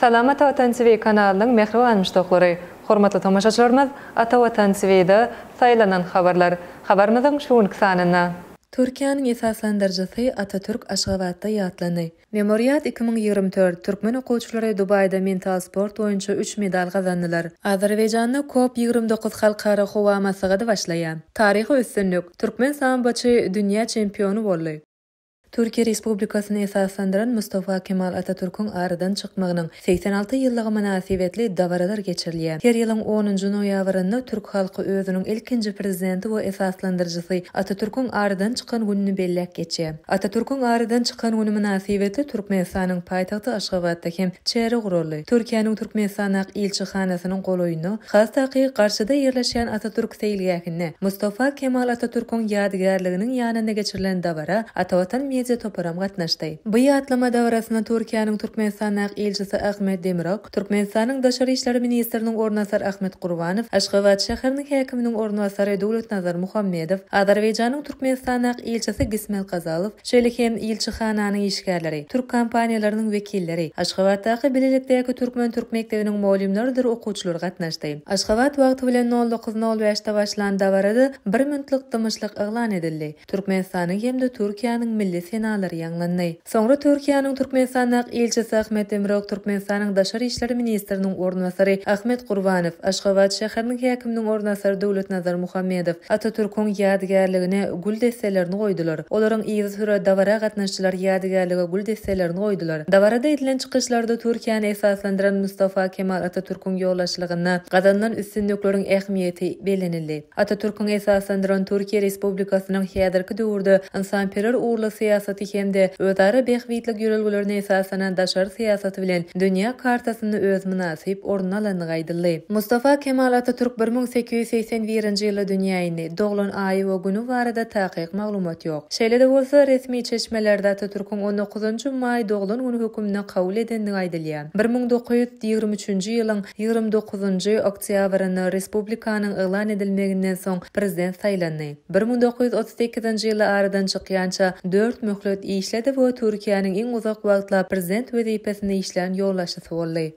Salam Ata Watan TV kanalynyň mähriban muşdaklary! Hormatly tomaşaçylarymyz, Ata Watan TV-de Saýlanan habarlar habarymyzyň şu günki sanynda. Türkiýäniň esaslandyryjysy Atatürk Aşgabatda ýatlandy. Memoriat iki müň ýigrimi dört, Türkmen okuwçylary Dubaýda mental sport boýunça üç medal gazandylar. Azerbaýjanda COP ýigrimi dokuz halkara howa maslahady başlaýar. Taryhy üstünlik, türkmen samboçy dünýä çempiony boldy. Türkiýe Respublikasyny esaslandyran Mustafa Kemal Atatürküň aradan çykmagynyň Segsen alty ýyllygy mynasybetli dabaralar geçirilýär. Her ýylyň onunjy noýabrynda türk halky özüniň ilkinji Prezidenti we esaslandyryjysy Atatürküň aradan çykan gününi belläp geçýär. Atatürküň aradan çykan güni mynasybetli Türkmenistanyň paýtagty Aşgabatda hem çäre guraldy. Türkiýäniň Türkmenistandaky ilçihanasynyň golaýynda, has daky, garşyda ýerleşýän Atatürk seýilgähinde Mustafa Kemal Atatürküň ýadygärliginiň ýanynda geçirilen dabara Atavatan media toparam gatnaşdy. Bu ýatlama dabarasyna Türkiýäniň Türkmenistandaky ilçisi Ahmet Demirok, Türkmenistanyň Daşary işler ministriniň orunbasary Ahmet Gurbanow, Aşgabat şäheriniň häkiminiň orunbasary Döwletnazar Muhammedow, Azerbaýjanyň Türkmenistandaky ilçisi Gismel Kazalow, şeýle hem ilçihananyň işgärleri, türk kompaniýalarynyň wekilleri, Aşgabatdaky bilelikdäki türkmen-türk mekdebiniň mugallymlarydyr okuwçylary gatnaşdy. Aşgabat wagty bilen nol dokuz nol bäşde başlan dabarada bir minutlyk dymyşlyk yglan edildi. Türkmenistanyň hem-de Türkiýäniň milli senalary ýaňlandy. Soňra Türkiýäniň Türkmenistandaky ilçisi Ahmet Demirok, Türkmenistanyň Daşary işler ministriniň orunbasary Ahmet Gurbanow, Aşgabat şäheriniň häkiminiň orunbasary Döwletnazar Muhammedow Atatürküň ýadygärligine gül desselerini goýdular. Olaryň yzysüre dabara gatnaşyjylar ýadygärlige gül desselerini goýdular. Dabarada edilen çykyşlarda Türkiýäni esaslandyran Mustafa Kemal Atatürküň ýolbaşçylygynda gazanylan üstünlikleriň ähmiýeti bellenildi. Atatürküň esaslandyran Türkiýe Respublikasynyň häzirki döwürde ynsanperwer ugurly syýasaty hem-de özara bähbitlik ýörelgelerine esaslanan daşary syýasaty bilen dünýä kartasynda öz mynasyp ornuny alandygy aýdyldy. Mustafa Kemal Atatürk bir müň sekiz ýüz segsen birinji ýylda dünýä indi, doglan aýy we güni barada takyk maglumat ýok. Şeýle-de bolsa, resmi çeşmelerde Atatürküň on dokuzynjy maý doglan güni hökmünde kabul edendigi aýdylýar. Bir müň dokuz ýüz ýigrimi üçünji ýylyň ýigrimi dokuzynjy oktýabrynda respublikanyň yglan edilmeginden soň prezident saýlandy. Bir müň dokuz ýüz otuz sekizinji ýyly aradan çykýança dört möhlet işledi we Türkiýäniň iň uzak wagtlap prezident wezipesinde işlän ýolbaşçysy boldy.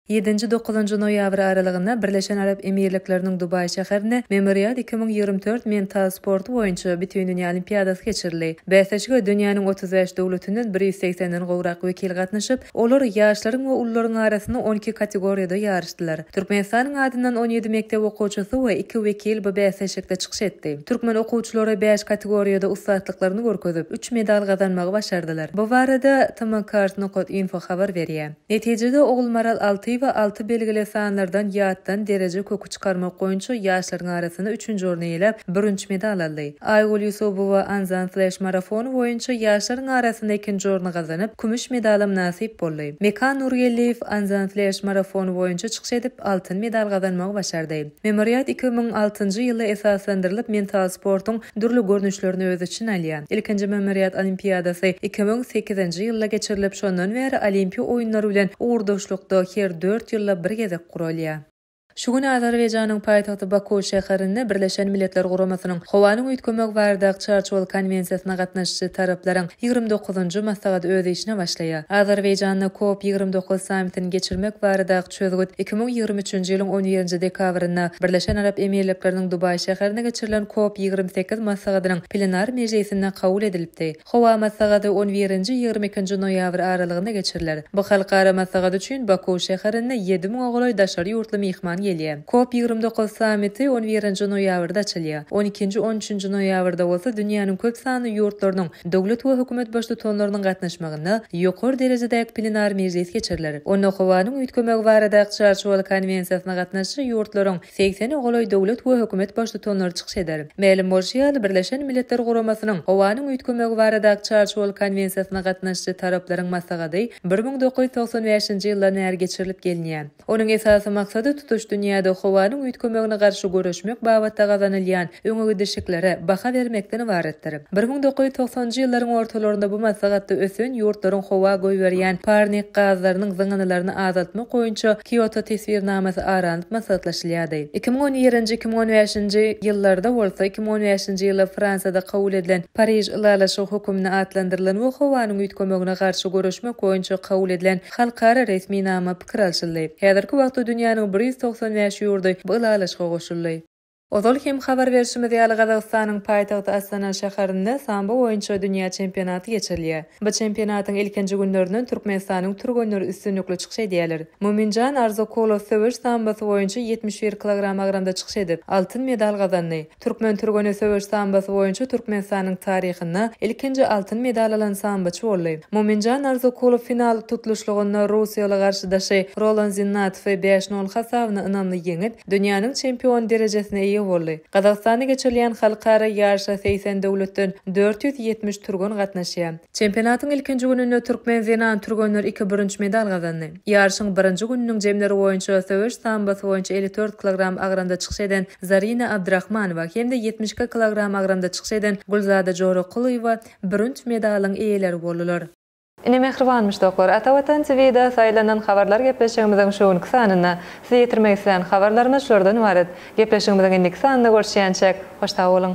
Ýedinji-dokuzynjy noýabr aralygynda Birleşen Arap Emirlikleriniň Dubaý şäherinde Memorial iki müň ýigrimi dört mental sporty boýunça Bütindünýä olimpiadasy geçirildi. Bäsleşige dünýäniň otuz bäş döwletinden bir ýüz segsen den gowrak wekil gatnaşyp, Olar ýaşlaryň we ulularyň arasynda on iki kategoriýada ýaryşdylar. Türkmenistanyň adyndan on ýedi mekdep okuwçysy we iki wekil bu bäsleşikde çykyş etdi. Türkmen okuwçylary bäş kategoriýada ussatlyklaryny görkezip, üç medal gazanmagy başardylar. Bu barada TMCART Nokot Info habar berýär. Netijede Ogulmaral alty we alty belgili sanlardan ýatdan dereje köki çykarmak boýunça ýaşlaryň arasynda üçünji orny eýeläp, bürünç medal aldy. Aýgül Ýusubowa Anzan Flash marafony boýunça ýaşlaryň arasynda ikinji orny gazanyp, kümüş medalam nasyp boldy. Mekan Nurgeldiýew Anzan Flash marafony boýunça çykyş edip, altyn medal gazanmagy başardy. Memoriat iki müň altynjy ýylda esaslandyrylyp, mental sportuň dürli görnüşlerini öz içine alýar. Ilkinji Memoriat olimpiadasy iki müň sekizinji ýylda geçirilip, şondan bäri Olimpiýa oýunlary bilen ugurdaşlykda her dört ýylda bir gezek guralýar. Şu gün Azerbaýjanyň paýtagty Baku şäherinde Birleşen Milletler Guramasynyň Howanyň üýtgemegi baradaky Çarçuwaly konwensiýasyna gatnaşyjy taraplaryň ýigrimi dokuzynjy maslahaty öz işine başlaýar. Azerbaýjanda COP ýigrimi dokuz sammitini geçirmek baradaky çözgüt iki müň ýigrimi üçünji ýylyň on birinji dekabrynda Birleşen Arap Emirlikleriniň Dubaý şäherinde geçirilen COP ýigrimi sekiz maslahatynyň plenar mejlisinde kabul edilipdi. Howa maslahaty on birinji-ýigrimi ikinji noýabr aralygynda geçiriler. Bu halkara maslahat üçin Baku şäherine ýedi müňe golaý daşary ýurtly myhman gelýär. Kop ýigrimi dokuz sammiti on birinji noýabrda açylýar. On ikinji, on üçünji noýabrda bolsa dünýäniň köp sanly ýurtlarynyň döwlet we hökümet baştutanlarynyň gatnaşmagynda ýokary derejedäki plenar mejlis geçiriler. Onda howanyň üýtgemegi baradaky çarçuwaly konwensiýasyna gatnaşyjy ýurtlaryň segsene golaý döwlet we hökümet baştutanlary çykyş eder. Mälim bolşy ýaly, Birleşen Milletler Guramasynyň Howanyň üýtgemegi baradaky Çarçuwaly konwensiýasyna gatnaşyjy taraplaryň maslahaty bir müň dokuz ýüz togsan bäşinji ýyldan bäri geçirilip gelinýär. Onuň esasy maksady tutuş dünýäde howanyň üýtgemegine garşy göreşmek babatda gazanylýan öňegidişliklere baha bermekden ybaratdyr. Bir müň dokuz ýüz togsanjy ýyllaryň ortalarynda bu maslahatda ösen ýurtlaryň howa goýberýän parnik gazlarynyň zyňyndylaryny azaltmak boýunça Kioto teswirnamasy aralanyp maslahatlaşylýardy. Iki müň on ýerinji-iki müň on bäşinji ýyllarda bolsa, iki müň on bäşinji ýyly Fransiýada kabul edilen Pariž ylalaşygy höküminde atlandyrylan we howanyň üýtgemegine garşy göreşmek boýunça kabul edilen halkara resminama pikir alşyldy. Häzirki wagtda dünýäniň bir ýüz togsan bäş ýurdy bu ylalaşyga goşuldy. Ozal hem habar berşimiz ýaly, Gazagystanyň paýtagty Astana şäherinde sambo boýunça dünýä çempionaty geçirilýär. Bu çempionatyň ilkinji günlerinden Türkmenistanyň türgenleri üstünlikli çykyş edýärler. Muminjan Arzokulow söweş sambosy boýunça ýetmiş bir kilogram agramda çykyş edip, altyn medal gazandy. Türkmen türgeni söweş sambosy boýunça Türkmenistanyň taryhynda ilkinji altyn medal alan samboçy boldy. Muminjan Arzokulow final tutluşlygynda russiýaly garşydaşy Rolan Zinnatowy bäş-nol hasabyna ynamly ýeňip, Dünýäniň çempiony derejesine eýe boldy. Gazagystanda geçirilýän halkara ýaryşa segsen döwletden dört ýüz ýetmiş türgen gatnaşýar. Çempionatyň ilkinji gününde türkmen zenan türgenleri iki bürünç medal gazandy. Ýaryşyň birinji gününiň jemleri boýunça söweş sambosy boýunça elli dört kilogram agramda çykyş eden Zarina Abdyrahmanowa hem-de ýetmiş iki kilogram agramda çykyş eden Gülzada Jorakulowa bürünç medalyň eýeleri boldular. Ine mähribanmyş doklar. Ata Watan TVda saýlanan habarlar gepleşigimiziň şu günki sanynda. Size ýetirmek islän habarlarymyz şulardan ybarat. Gepleşigimiziň indiki sanynda görüşýänçäk, hoş sag boluň!